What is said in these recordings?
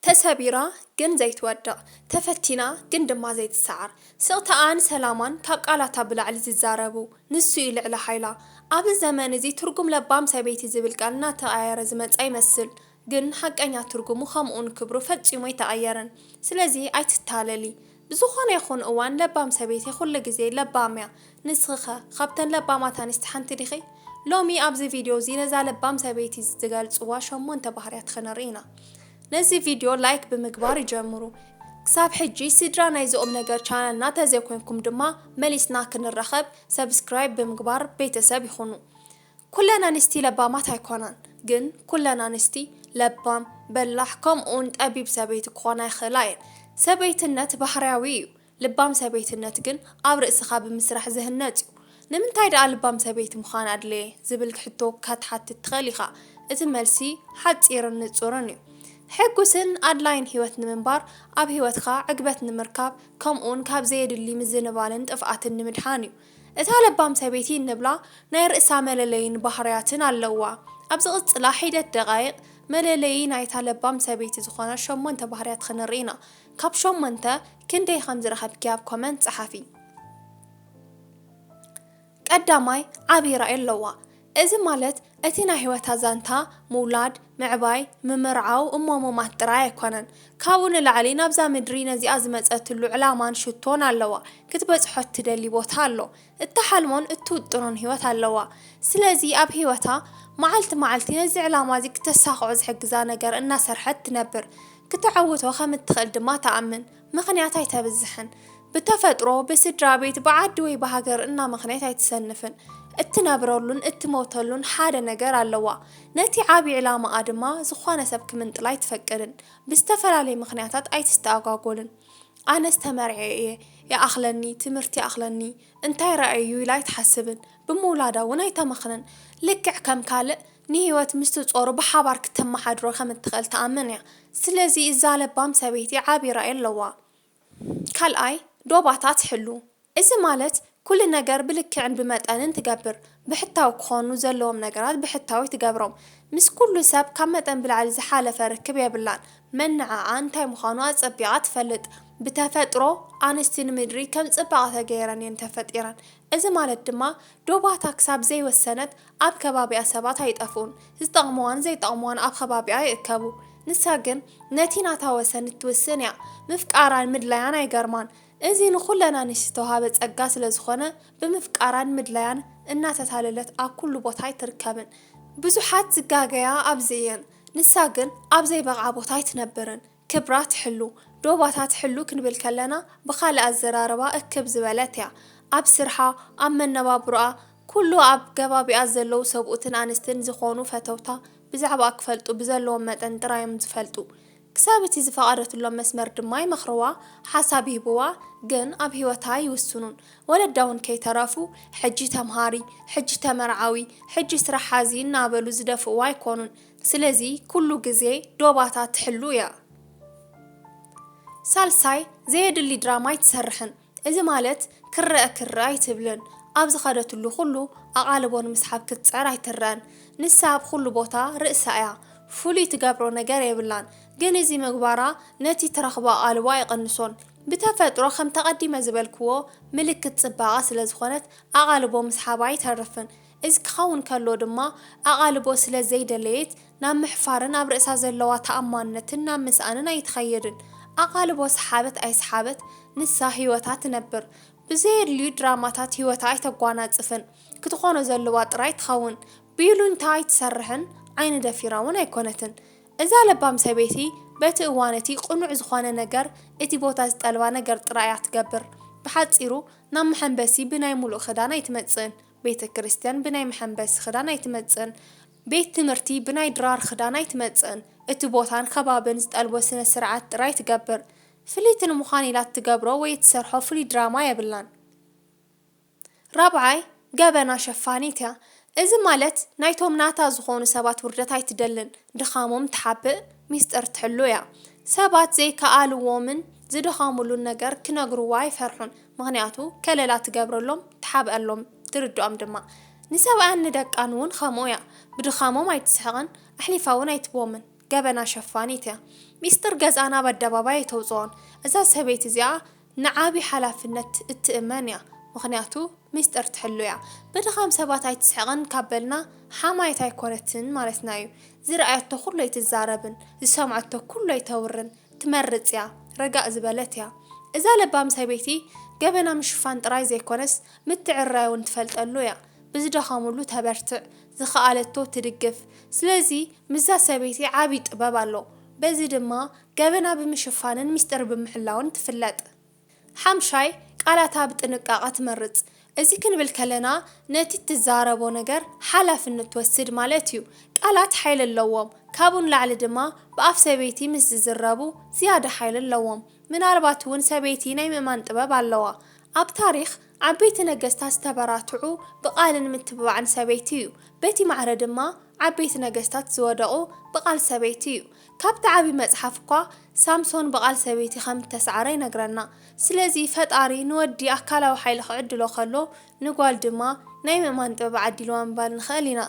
ተሰቢራ ግን ዘይትወድቕ፣ ተፈቲና ግን ድማ ዘይትሰዓር፣ ስቕታኣን ሰላማን ካብ ቃላታ ብላዕሊ ዝዛረቡ፣ ንሱ እዩ ልዕሊ ሓይላ። ኣብዚ ዘመን እዚ ትርጉም ለባም ሰበይቲ ዝብል ቃል እናተቐያየረ ዝመጽኣ ይመስል፣ ግን ሓቀኛ ትርጉሙ ከምኡ'ውን ክብሩ ፈጺሙ ኣይተቐየረን። ስለዚ ኣይትታለሊ። ብዝኾነ ይኹን እዋን ለባም ሰበይቲ ኩሉ ግዜ ለባም እያ ንስኺ'ኸ ካብተን ለባማት ኣንስቲ ሓንቲ ዲኺ? ሎሚ ኣብዚ ቪድዮ እዚ ነዛ ለባም ሰበይቲ ዝገልጽዋ ሸሞንተ ባህርያት ኽንርኢ ኢና ነዚ ቪድዮ ላይክ ብምግባር ጀምሩ ክሳብ ሕጂ ስድራ ናይዚ ቁምነገር ቻነልና ተዘይኮንኩም ድማ መሊስና ክንራኸብ ሰብስክራይብ ብምግባር ቤተሰብ ይኹኑ ኩለን ኣንስቲ ለባማት ኣይኮናን ግን ኩለን ኣንስቲ ለባም፣ በላሕ ከምኡውን ጠቢብ ሰበይቲ ክኾና ይኽእላ እየን። ሰበይትነት ባህርያዊ እዩ፣ ልባም ሰበይትነት ግን ኣብ ርእስኻ ብምስራሕ ዝህነጽ እዩ። ንምንታይ ደኣ ልባም ሰበይቲ ምዃን ኣድለየ? ዝብል ሕቶ ከትሓትት ትኽእል ኢኻ። እቲ መልሲ ሓጺርን ንጹርን እዩ። ሕጉስን ኣድላይን ህይወት ንምንባር፣ ኣብ ህይወትካ ዕግበት ንምርካብ፣ ከምኡውን ካብ ዘየድሊ ምዝንባልን ጥፍኣትን ንምድሓን እዩ። እታ ለባም ሰበይቲ እንብላ ናይ ርእሳ መለለይን ባህርያትን ኣለዋ። ኣብ ዝቕጽላ ሒደት ደቓይቕ፣ መለለዪ ናይታ ለባም ሰበይቲ ዝኾና ሸሞንተ ባህርያት ኽንርኢ ኢና። ካብ ሸሞንተ ክንደይ ኸም ዝረኸብኪ ኣብ ኮመንት ጸሓፊ። ቀዳማይ፣ ዓብዪ ራኢ ኣለዋ። እዚ ማለት እቲ ናይ ሕይወታ ዛንታ ምውላድ፣ ምዕባይ፣ ምምርዓው እሞ ምማት ጥራይ ኣይኮነን። ካብኡ ንላዕሊ ናብዛ ምድሪ ነዚኣ ዝመጸትሉ ዕላማን ሽቶን ኣለዋ። ክትበጽሖ እትደሊ ቦታ ኣሎ። እትሓልሞን እትውጥኖን ሕይወት ኣለዋ። ስለዚ ኣብ ሕይወታ መዓልቲ መዓልቲ ነዚ ዕላማዚ ክተሳኽዖ ዝሕግዛ ነገር እናሰርሐት ትነብር። ክተዐውቶ ከም እትኽእል ድማ ትኣምን። ምኽንያት ኣይተብዝሕን። ብተፈጥሮ፣ ብስድራቤት፣ ብዓዲ ወይ ብሃገር እና ምኽንያት ኣይትሰንፍን። እትነብረሉን እትሞተሉን ሓደ ነገር ኣለዋ። ነቲ ዓቢ ዕላማኣ ድማ ዝኾነ ሰብ ክምንጥላ ኣይትፈቅድን። ብዝተፈላለየ ምኽንያታት ኣይትስተኣጓጎልን። ኣነስ ተመርዕየ እየ፣ ይኣኽለኒ፣ ትምህርቲ ይኣኽለኒ፣ እንታይ ረኣየ'ዩ ኢላ ኣይትሓስብን። ብምውላዳ እውን ኣይተመኽንን። ልክዕ ከም ካልእ ንህይወት ምስቲ ጾሩ ብሓባር ክተመሓድሮ ከም እትኽእል ትኣምን እያ። ስለዚ እዛ ለባም ሰበይቲ ዓቢ ራኢ ኣለዋ። ካልኣይ፣ ዶባታ ትሕሉ። እዚ ማለት ኩሉ ነገር ብልክዕን ብመጠንን ትገብር። ብሕታዊ ክኾኑ ዘለዎም ነገራት ብሕታዊ ትገብሮም። ምስ ኩሉ ሰብ ካብ መጠን ብላዕሊ ዝሓለፈ ርክብ የብላን። መነዓዓ እንታይ ምዃኑ ኣጸቢቓ ትፈልጥ። ብተፈጥሮ ኣንስቲ ንምድሪ ከም ጽባቐ ተገይረን እየን ተፈጢረን። እዚ ማለት ድማ ዶባታ ክሳብ ዘይወሰነት ኣብ ከባቢኣ ሰባት ኣይጠፍኡን። ዝጠቕሙዋን ዘይጠቕሙዋን ኣብ ኸባቢኣ ይእከቡ። ንሳ ግን ነቲ ናታ ወሰን እትውስን እያ። ምፍቃራን ምድላያን ኣይገርማን። እዚ ንኹለና ንሽዝተውሃበ ጸጋ ስለ ዝኾነ ብምፍቃራን ምድላያን እናተታለለት ኣብ ኩሉ ቦታ ኣይትርከብን። ብዙሓት ዝጋገያ ኣብዚ እየን። ንሳ ግን ኣብ ዘይበቕዓ ቦታ ኣይትነብርን። ክብራ ትሕሉ፣ ዶባታ ትሕሉ ክንብል ከለና ብኻልእ ኣዘራርባ እክብ ዝበለት እያ። ኣብ ስርሓ፣ ኣብ መነባብሮኣ፣ ኩሉ ኣብ ገባቢኣ ዘለዉ ሰብኡትን ኣንስትን ዝኾኑ ፈተውታ ብዛዕባኣ ክፈልጡ ብዘለዎም መጠን ጥራይ እዮም ዝፈልጡ። ክሳብ እቲ ዝፈቐደትሎም መስመር ድማ ይመኽርዋ፣ ሓሳብ ይህብዋ፣ ግን ኣብ ህይወታ ኣይውስኑን። ወለዳ እውን ከይተረፉ ሕጂ ተምሃሪ፣ ሕጂ ተመርዓዊ፣ ሕጂ ስራሕ ሓዚ እናበሉ ዝደፍእዋ ኣይኮኑን። ስለዚ ኩሉ ግዜ ዶባታ ትሕሉ እያ። ሳልሳይ ዘየድሊ ድራማ ኣይትሰርሕን እዚ ማለት ክረኣ ክረኣ ኣይትብልን ኣብ ዝኸደትሉ ኩሉ ኣቓልቦ ንምስሓብ ክትጽዕር ኣይትረኣን ንሳ ኣብ ኩሉ ቦታ ርእሳ እያ ፍሉይ ትገብሮ ነገር የብላን ግን እዚ ምግባራ ነቲ ትረኽቦ ኣቓልቦ ኣይቕንሶን ብተፈጥሮ ከምቲ ኣቐዲመ ዝበልክዎ ምልክት ጽባቐ ስለዝኾነት ኣቓልቦ ምስሓባ ኣይተርፍን እዚ ክኸውን ከሎ ድማ ኣቓልቦ ስለ ዘይደለየት ናብ ምሕፋርን ኣብ ርእሳ ዘለዋ ተኣማንነትን ናብ ምስኣንን ኣይትኸይድን። ኣቓልቦ ሰሓበት ኣይሰሓበት ንሳ ህይወታ ትነብር። ብዘየድልዩ ድራማታት ህይወታ ኣይተጓናጽፍን። ክትኾኖ ዘለዋ ጥራይ ትኸውን። ብይሉኝታ ኣይትሰርሕን ዓይኒ ደፊራ ውን ኣይኮነትን። እዛ ለባም ሰበይቲ በቲ እዋን እቲ ቅኑዕ ዝኾነ ነገር እቲ ቦታ ዝጠልባ ነገር ጥራይ እያ ትገብር። ብሓጺሩ ናብ መሐንበሲ ብናይ ሙሉእ ክዳን ኣይትመጽእን። ቤተ ክርስቲያን ብናይ መሐንበሲ ክዳን ኣይትመጽእን፣ ቤት ትምህርቲ ብናይ ድራር ክዳን ኣይትመጽእን፣ እቲ ቦታን ከባብን ዝጠልቦ ስነ ስርዓት ጥራይ ትገብር። ፍልይቲ ንምዃን ኢላ እትገብሮ ወይ እትሰርሖ ፍሉይ ድራማ የብላን። ራብዓይ፣ ገበና ሸፋኒት እያ። እዚ ማለት ናይቶም ናታ ዝኾኑ ሰባት ውርደት ኣይትደልን፣ ድኻሞም ትሓብእ፣ ሚስጥር ትሕሉ እያ። ሰባት ዘይከኣልዎምን ዝደኸሙሉን ነገር ክነግርዋ ኣይፈርሑን። ምኽንያቱ ከለላ ትገብረሎም፣ ትሓብኣሎም፣ ትርድኦም ድማ። ንሰብኣያን ንደቃን'ውን ኸምኡ እያ። ብድኻሞም ኣይትስሕቕን፣ ኣሕሊፋ'ውን ኣይትቦምን። ገበና ሸፋኒት እያ። ሚስጥር ገዝኣ ናብ ኣደባባይ ኣይተውጽኦን። እዛ ሰበይቲ እዚኣ ንዓቢ ሓላፍነት እትእመን እያ። ምኽንያቱ ሚስጥር ትሕሉ እያ። ብድኻም ሰባት ኣይትስሕቕን ካብ በልና ሓማየት ኣይኮነትን ማለትና እዩ። ዝረኣየቶ ኩሉ ኣይትዛረብን፣ ዝሰምዐቶ ኩሉ ኣይተውርን። ትመርጽ እያ ረጋእ ዝበለት እያ እዛ ለባም ሰበይቲ ገበና ምሽፋን ጥራይ ዘይኮነስ ምትዕርራይ ውን ትፈልጠሉ እያ ብዝደኸሙሉ ተበርትዕ ዝኸኣለቶ ትድግፍ ስለዚ ምስዛ ሰበይቲ ዓቢ ጥበብ ኣሎ በዚ ድማ ገበና ብምሽፋንን ሚስጥር ብምሕላውን ትፍለጥ ሓምሻይ፣ ቃላታ ብጥንቃቐ ትመርጽ። እዚ ክንብል ከለና ነቲ እትዛረቦ ነገር ሓላፍነት ትወስድ ማለት እዩ። ቃላት ሓይሊ ኣለዎም፣ ካብኡ ንላዕሊ ድማ ብኣፍ ሰበይቲ ምስ ዝዝረቡ ዝያዳ ሓይሊ ኣለዎም። ምናልባት እውን ሰበይቲ ናይ ምእማን ጥበብ ኣለዋ። ኣብ ታሪኽ፣ ዓበይቲ ነገስታት ዝተበራትዑ ብቓልን ምትብባዕን ሰበይቲ እዩ። በቲ ማዕረ ድማ ዓበይቲ ነገስታት ዝወደቑ ብቓል ሰበይቲ እዩ። ካብቲ ዓቢ መጽሓፍ እኳ ሳምሶን ብቓል ሰበይቲ ከም እተሳዕረ ይነግረና። ስለዚ ፈጣሪ ንወዲ ኣካላዊ ሓይሊ ክዕድሎ ከሎ ንጓል ድማ ናይ ምእማን ጥበብ ዓዲልዋ ምባል ንኽእል ኢና።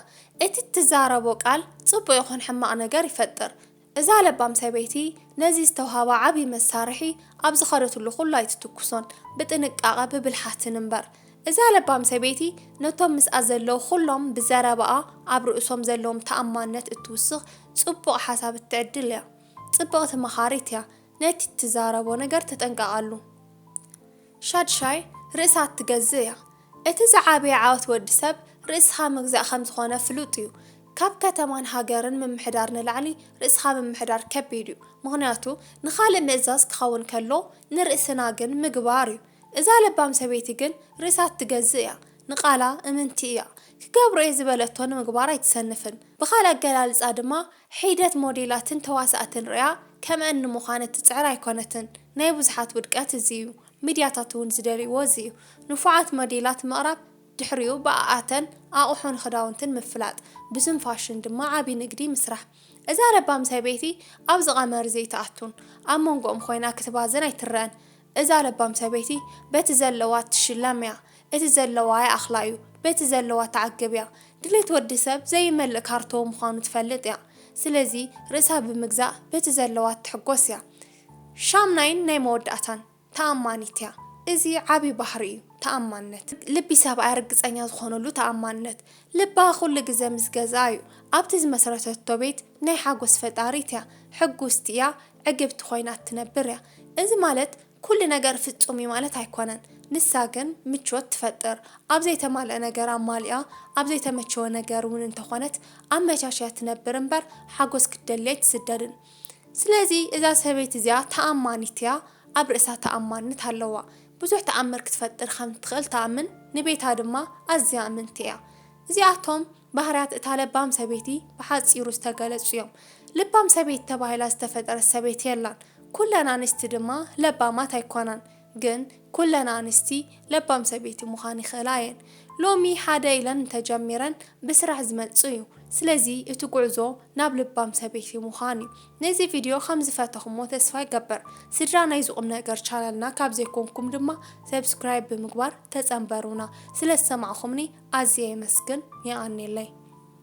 እቲ እትዛረቦ ቃል ጽቡቕ ይኹን ሕማቕ ነገር ይፈጥር። እዛ ለባም ሰበይቲ ነዚ ዝተውሃባ ዓቢ መሳርሒ ኣብ ዝኸደትሉ ኩሉ ኣይትትኩሶን ብጥንቃቐ ብብልሓትን እምበር። እዛ ለባም ሰበይቲ ነቶም ምስኣ ዘለዉ ኹሎም ብዘረባኣ ኣብ ርእሶም ዘለዎም ተኣማንነት እትውስኽ ጽቡቕ ሓሳብ እትዕድል እያ። ጽብቕቲ መኻሪት እያ፣ ነቲ እትዛረቦ ነገር ተጠንቀቓሉ። ሻድሻይ፣ ርእሳ እትገዝእ እያ። እቲ ዝዓበየ ዓወት ወዲ ሰብ ርእስኻ ምግዛእ ከም ዝኾነ ፍሉጥ እዩ። ካብ ከተማን ሃገርን ምምሕዳር ንላዕሊ ርእስኻ ምምሕዳር ከቢድ እዩ። ምኽንያቱ ንኻልእ ምእዛዝ ክኸውን ከሎ ንርእስና ግን ምግባር እዩ። እዛ ለባም ሰበይቲ ግን ርእሳ እትገዝእ እያ፣ ንቓላ እምንቲ እያ። ክገብሮ እየ ዝበለቶ ንምግባር ኣይትሰንፍን። ብኻልእ ኣገላልጻ ድማ ሒደት ሞዴላትን ተዋሳእትን ርእያ ከምኣን ንምዃን እትጽዕር ኣይኮነትን። ናይ ብዙሓት ውድቀት እዚ እዩ። ሚድያታት እውን ዝደልይዎ እዚ እዩ። ንፉዓት ሞዴላት ምቕራብ ድሕሪኡ ብኣኣተን ኣቑሑን ኽዳውንትን ምፍላጥ፣ ብስም ፋሽን ድማ ዓቢ ንግዲ ምስራሕ። እዛ ለባም ሰበይቲ ኣብዚ ቐመር እዚ ኣይትኣቱን። ኣብ መንጎኦም ኾይና ክትባዝን ኣይትረኣን። እዛ ለባም ሰበይቲ በቲ ዘለዋ እትሽለም እያ እቲ ዘለዋ ይኣኽላ እዩ በቲ ዘለዋ ትዓግብ እያ ድሌት ወዲ ሰብ ዘይመልእ ካርቶዎ ምዃኑ ትፈልጥ እያ ስለዚ ርእሳ ብምግዛእ በቲ ዘለዋ ትሕጎስ እያ ሻምናይን ናይ መወዳእታን ተኣማኒት እያ እዚ ዓቢ ባህሪ እዩ ተኣማንነት ልቢ ሰብኣያ ርግጸኛ ዝኾነሉ ተኣማንነት ልባ ኩሉ ግዘ ምስ ገዝኣ እዩ ኣብቲ ዝመስረተቶ ቤት ናይ ሓጎስ ፈጣሪት እያ ሕጉስቲ እያ ዕግብቲ ኮይና እትነብር እያ። እዚ ማለት ኩሉ ነገር ፍጹም እዩ ማለት ኣይኮነን። ንሳ ግን ምቾት ትፈጥር። ኣብ ዘይተማልአ ነገር ኣማሊኣ፣ ኣብ ዘይተመቸወ ነገር እውን እንተኾነት ኣመቻችያ ትነብር እምበር ሓጎስ ክትደሊ ኣይትስደድን። ስለዚ እዛ ሰበይቲ እዚኣ ተኣማኒት እያ፣ ኣብ ርእሳ ተኣማንነት ኣለዋ። ብዙሕ ተኣምር ክትፈጥር ከም እትኽእል ትኣምን፣ ንቤታ ድማ ኣዝያ እምንቲ እያ። እዚኣቶም ባህርያት እታ ለባም ሰበይቲ ብሓጺሩ ዝተገለጹ እዮም። ልባም ሰበይቲ ተባሂላ ዝተፈጠረት ሰበይቲ የላን። ኩለን ኣንስቲ ድማ ለባማት ኣይኮናን። ግን ኩለን ኣንስቲ ለባም ሰበይቲ ምዃን ይኽእላ እየን። ሎሚ ሓደ ኢለን እንተጀሚረን ብስራሕ ዝመጽእ እዩ። ስለዚ እቲ ጉዕዞ ናብ ልባም ሰበይቲ ምዃን እዩ። ነዚ ቪድዮ ከም ዝፈተኹሞ ተስፋ ይገብር። ስድራ ናይዚ ቁምነገር ቻነልና ካብ ዘይኮንኩም ድማ ሰብስክራይብ ብምግባር ተጸንበሩና። ስለ ዝሰማዕኹምኒ ኣዝየ የመስግን። የቀኔለይ።